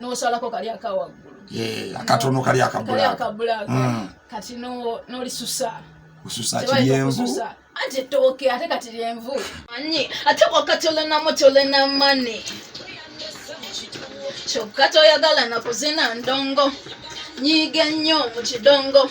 n'osalako kali akawaggulu eh, akatono kali akabulaaka hmm. kati n'olisusa osusa kiyenvu ate tooke ate kati lyenvu anyi ate kwaka tolenamu tolena mani kyokka toyagala nakuzina ndongo nyiige nnyo mu kidongo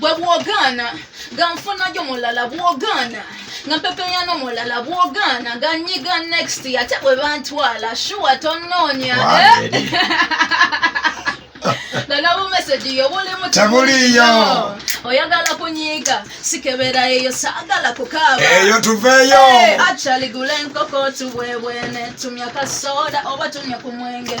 bwe bwogaana nga nfunayo mulala bwogaana nga mpepeyano mulala bwogaana nga nyiga next ate bwe bantwala shuwa tonoonya nalaba message yo bulimu tebuliyo oyagala kunyiga sikebera eyo saagala kukaaba eyo tuveeyo actually gula enkoko tubwebwene tumya kasoda oba tumya ku mwenge hey,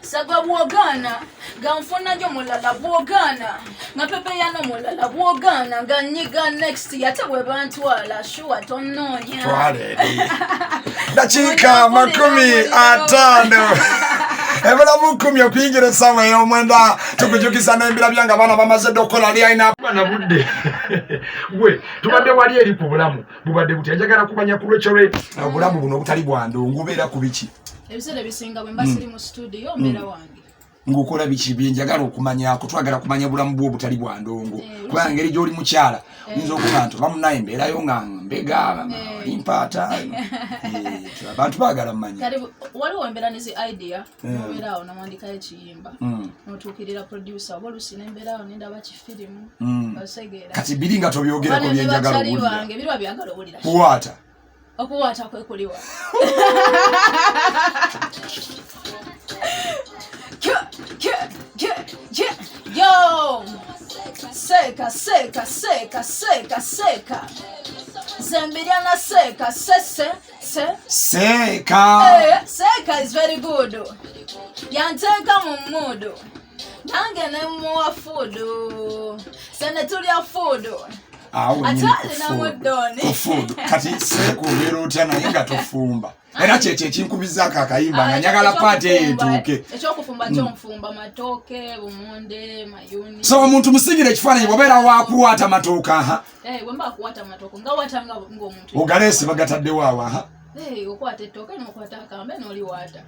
saga bwogana nga nfunayo mulala bwogana nga pepeyano mulala bwogana nga nyiga next yate bwebantwala shuwa tononya dakiika makumi atano ebula mukumi okuyingira esawa eyomwenda tukujukiza nembira byange abaana bamaze dde okukola lyalina na budde gwe tubadde wali eri ku bulamu bubadde buti ajagala kumanya kulwekyolwe obulamu buno obutali bwandu ngubeera ku biki ebiseera ebisinga bwe mba hmm. siri mu situdiyo hmm. mbeera wange ngaokola biki byenjagala okumanyako twagala kumanya bulamu bwo obutali bwa ndongo eh, kubanga ngeri gyoli mukyala eh. oyinza okuba nti oba munaye mbeerayo nga mbega eh. mpaata abantu bagala mumanyawaliwo embeera nezi idea nobeeraawo nomwandikayo ekiyimba hmm. notuukirira producer oba olusi nembeeraawo nendaba kifirimu osegeera kati biri nga tobyogerako byenjagala owulira biriwa byagala owulira kuwaata Okuwaata kwe kuliwa? Yo! Seka, seka, seka, seka, seka. Zambiana seka, se, se, se. Seka. Eh, seka is very good. Yanteka mu mudu. nange ne muwa fuudu sene tulya fuudu atwalinamudoonifuudu kati sekubeera otya naye nga tofumba era kyekyo ekinkubizaako akayimba nga nyagala paati eyo etuuke mm. so omuntu musigire ekifaananyi bwobeera wakuwaata matooke aha eh, ogaleesi bagataddewo awo aha eh, okwata ettooke nokwata akambe noliwaata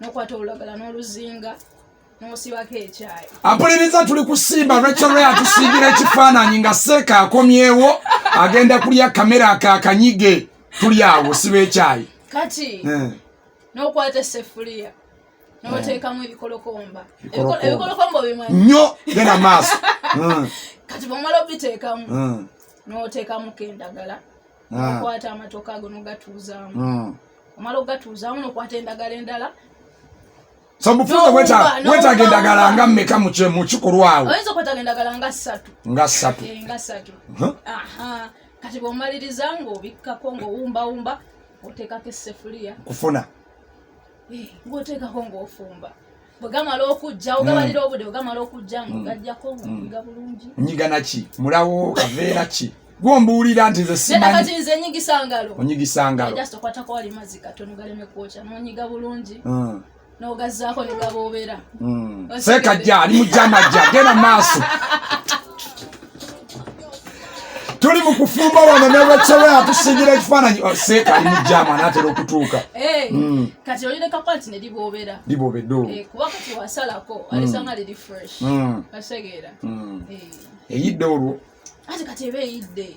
nokwata olulagala n'oluzinga nosibako ekyayi ampuliriza tuli kusimba rachel atusiigira ekifaananyi nga seeka akomyewo agenda kulya kamera akakanyige tuli awo siba ekyayi kati eh. nokwata esefuliya notekamu eh. ebikolokomba ebikolokomba obimanyi nyo genda maaso eh. kati bwomala obitekamu notekamuko endagala nokwata ah. amatoka ago nogatuuzaamu hmm. omala ogatuuzaamu nokwata endagala endala sabufuza wetaga endagala nga mmeka mukikolwa awo oyinza okwetaga endagala nga ssatu nga ssatu eh, nga ssatu kati bwomaliriza ngaobikkako ngaowumbawumba oteekako essefuliya kufuna eh, ngaoteekako ngaofumba bwegamala okujja ogabalira mm. obude bwegamala okujja mm. ngogajjako ngiga mm. bulungi nyiga naki mulawo kaveera ki gwombuulira nti nze simanyi nze nyigisa ngalo onyigisa ngalo just okwata ko wali mazzi katono galeme kwokya nonyiga bulungi nogazaako negaboobera seeka jja ali mu jama jja genda maaso tuli mu kufumba wano ne lwekyewe atusingira ekifaananyi oh, seeka ali mu jaamu anaatera okutuuka eh, mm. kati olireka kwati ne liboobera liboobeddoo eh, kuba kati wasalako alisanga mm. liri fresh mm. kasegeera eyidde olwo ate kati eba eyidde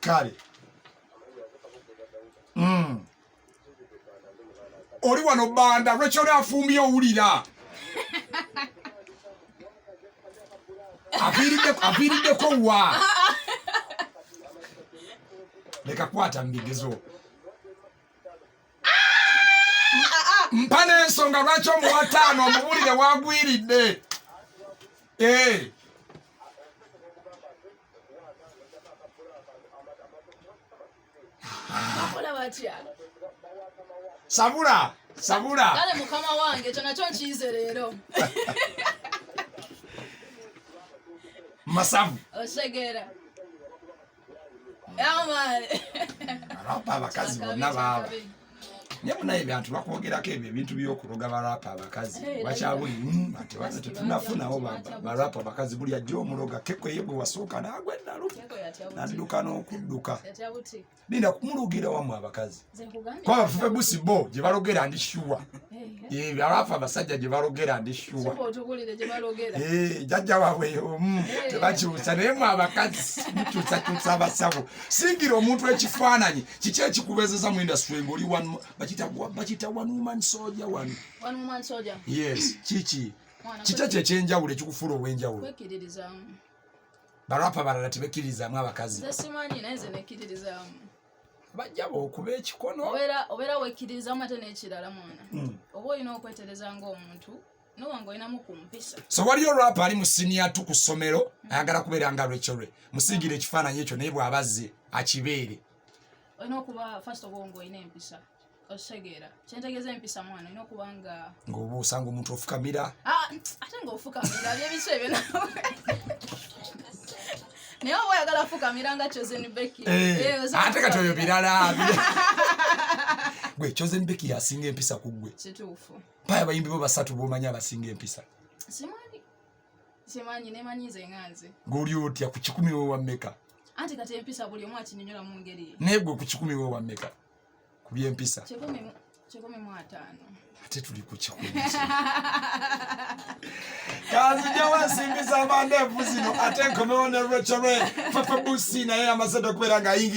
kale mm. oli wano banda lwaki oli afumbye owulira aviiriddeko wa leka kwata mubigezo mpa n'ensonga lwaki omuwa taano omubulire wagwiridde eh. sabula sabula kale mukama wange ekyo nakyo nkiyize leero masavu osegeera arapa abakazi bonna baaba naye munaye bantu bakwogerako ebyo ebintu byokuloga barapa abakazi bakyabuli hmm, ati bana tetunafunawo barapa abakazi buli ajja omuloga keko ye gwe wasooka nagwe nalu nadduka n'okudduka linda kumulogira wamu abakazi kuba bafufe busi bo gye balogera ndi shuwa eh, eh. abafu abasajja gye balogera ndi shuwa eh, jajja waabwe yomu tebakyusa naye mwe abakazi mukyusakyusa abasawo singira omuntu ekifaananyi kiki ekikubezeza mu industry ngaoli bakita one woman soja wano yes kiki kiki ekyo ekyenjawulo ekikufuula ow'enjawulo barapa balala tebekkiririzaamu abakazi bajjaba okuba ekikono obeera wekkiririza mu ate n'ekirala mwana hmm. oba olina okwetereza ng'omuntu so waliyo rap ali mu siniya tu ku ssomero hmm. ayagala kubeera nga lwekyolwe musiigire ekifaananyi ekyo naye bw'abazze akibeere olina okuba first of all ng'olina empisa okitegeera kyentegeeza empisa mwana olina okuba nga ngaobuusa nga omuntu ofukamira ah, ate nga ofukamira byebiso ebyo naye oba oyagala fukamira nga chosen becky eh, eh, ate kati oyo birala gwe chosen becky yasinga empisa ku gwe kituufu mpaya abayimbi bo basatu bomanyi abasinga empisa simanyi simanyi nemanyi nze nga nze ngaoli otya ku kikumi wewammeka anti kati empisa buli omu akinyonyolamu ngeri naye gwe ku kikumi wewammeka ku by'empisa ate tuli ku kikumi kanzijawo ensimbi z'amandeevu zino ate nkomewo ne rachel papa busi naye amaze okubeera ng'ayingira